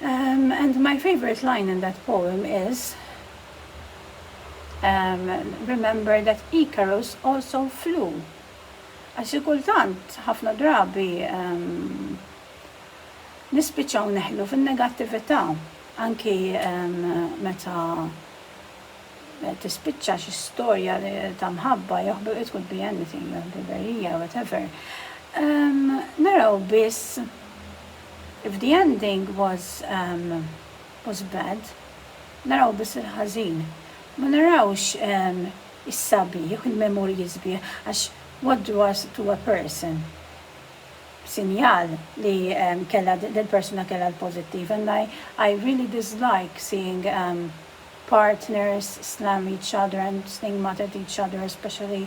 And my favourite line in that poem is Remember that Icarus also flew għax xi kultant ħafna drabi nispiċċaw neħlu fin-negattività anki meta tispiċċa xi storja ta' mħabba jew ħbi- it could be anything, jew ħbiberija, whatever, naraw biss If the ending was was bad, naraw biss il-ħażin. Ma narawx is-sabiħ, il-memorji sbieħ, għax what do us to a person? Sinjal li kellha dil-persuna kellha l-pożittiv and I I really dislike seeing partners slam each other and stigmatize each other especially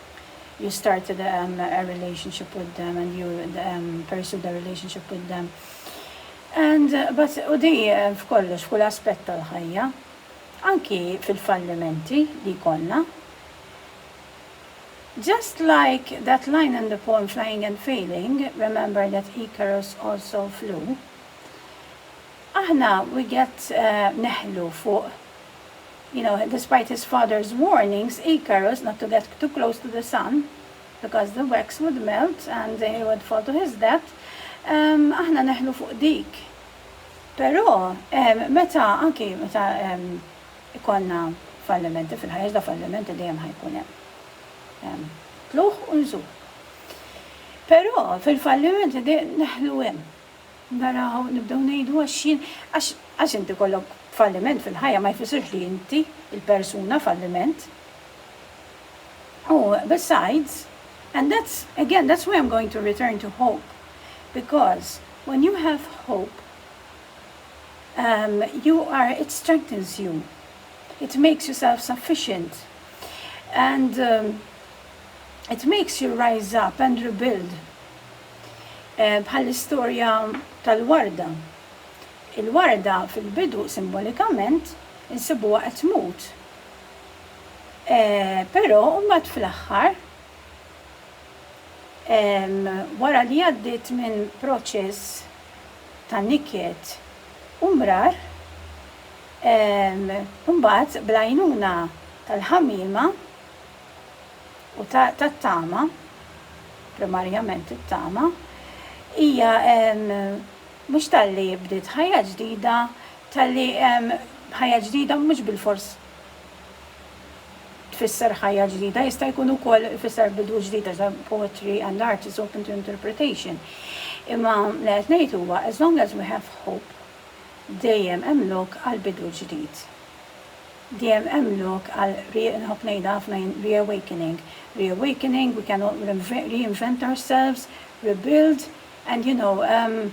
you start the a relationship with them and you pursue the relationship with them. And, but, u di f'kollox, f'kull aspett tal-ħajja, anki fil-fallimenti li konna. Just like that line in the poem Flying and Failing, remember that Icarus also flew, aħna we get uh, neħlu fuq You know, despite his father's warnings, Icarus not to get too close to the sun because the wax would melt and he would fall to his death, aħna neħlu fuq dik. Però meta anki meta ikollna fallimenti fil-ħajja, da fallimenti dejjem ħajkun hemm. Tluħ u nżul. Però fil-fallimenti neħlu hemm. Naraw, nibdew ngħidu għax jien, għax, għax inti jkollok falliment fil-ħajja ma jfissirx li inti, il-persuna, falliment. U, besides, and that's, again, that's why I'm going to return to hope, because when you have hope, you are, it strengthens you, it makes you self-sufficient, and it makes you rise up and rebuild. Bħall-istorja tal-warda. Il-warda fil-bidu simbolikament insibuha qed tmut, però mbagħad fl-aħħar wara li għaddiet minn proċess ta' niket u mrar, mbagħad bl-għajnuna tal-ħamiema, u tat-tama, primarjament it-tama, hija mhux talli bdiet ħajja ġdida, talli ħajja ġdida mhux bilfors tfisser ħajja ġdida, jista' jkun ukoll ifisser bidu ġdid għax hemm poetry and art is open to interpretation. Imma li qed ngħid huwa as long as we have hope dejjem hemm lok għal bidu ġdid. Dejjem hemm lok għal re, nħobb ngħidha ħafna jien, reawakening. Reawakening, we can all reinvent ourselves, rebuild and you know,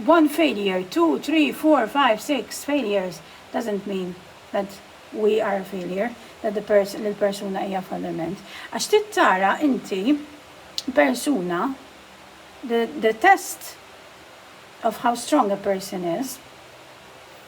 one failure, two, three, four, five, six failures doesn't mean that we are a failure, that the person, li l-persuna hija falliment. Għax trid tara inti persuna, the test of how strong a person is,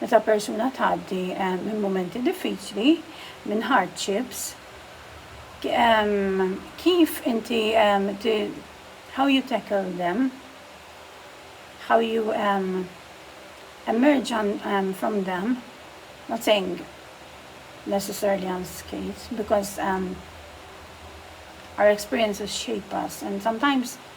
Meta persuna tgħaddi minn mumenti diffiċli, minn hardships, kif inti how you tackle them, how you emerge from them, not saying necessarily unscathed because our experiences shape us and sometimes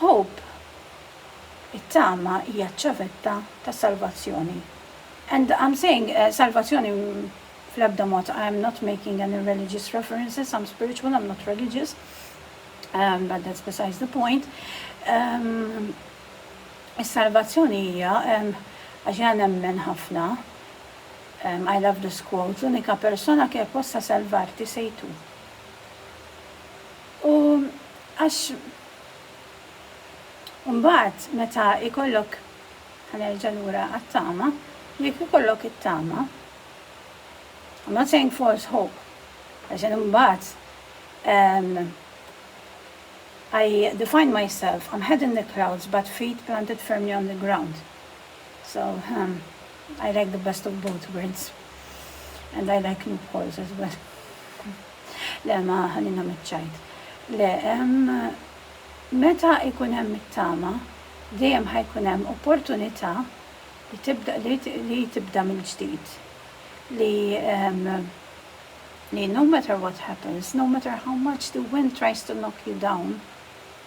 Hope, it-tama hija ċ-ċavetta tas-salvazzjoni. And I'm saying salvazzjoni fl-ebda mod, I am not making any religious references, I'm spiritual, I'm not religious, but that's besides the point. Is-salvazzjoni hija, għax jiena nemmen ħafna, I love this quote, l-unika persona che possa salvarti sei tu. U għax imbagħad meta jkollok, ħa nerġa' lura għat-tama, jekk ikollok it-tama, I'm not saying false hope, għax jien imbagħad I define myself, I'm head in the clouds but feet planted firmly on the ground. So, I like the best of both worlds and I like loopholes as well. Le, ma ħallina miċ-ċajt. Le, meta jkun hemm it-tama, dejjem ħa jkun hemm opportunità li tibda li tibda mill-ġdid. Li li no matter what happens, no matter how much the wind tries to knock you down,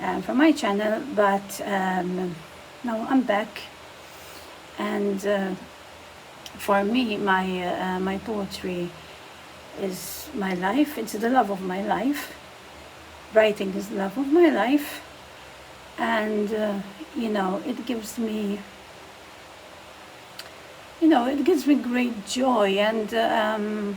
um, from my channel, but um, now I'm back and uh, for me my uh, my poetry is my life, it's the love of my life, writing is the love of my life and uh, you know it gives me you know it gives me great joy and um,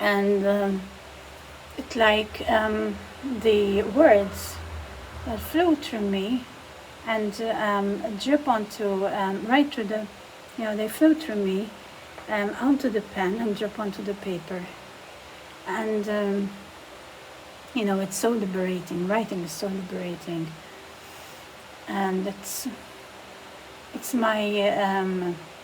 and it like um the words flew through me and um drip on to um right through the you know they flew through me um on to the pen and drip on to the paper and um you know it's so liberating writing is so liberating and it's it's my um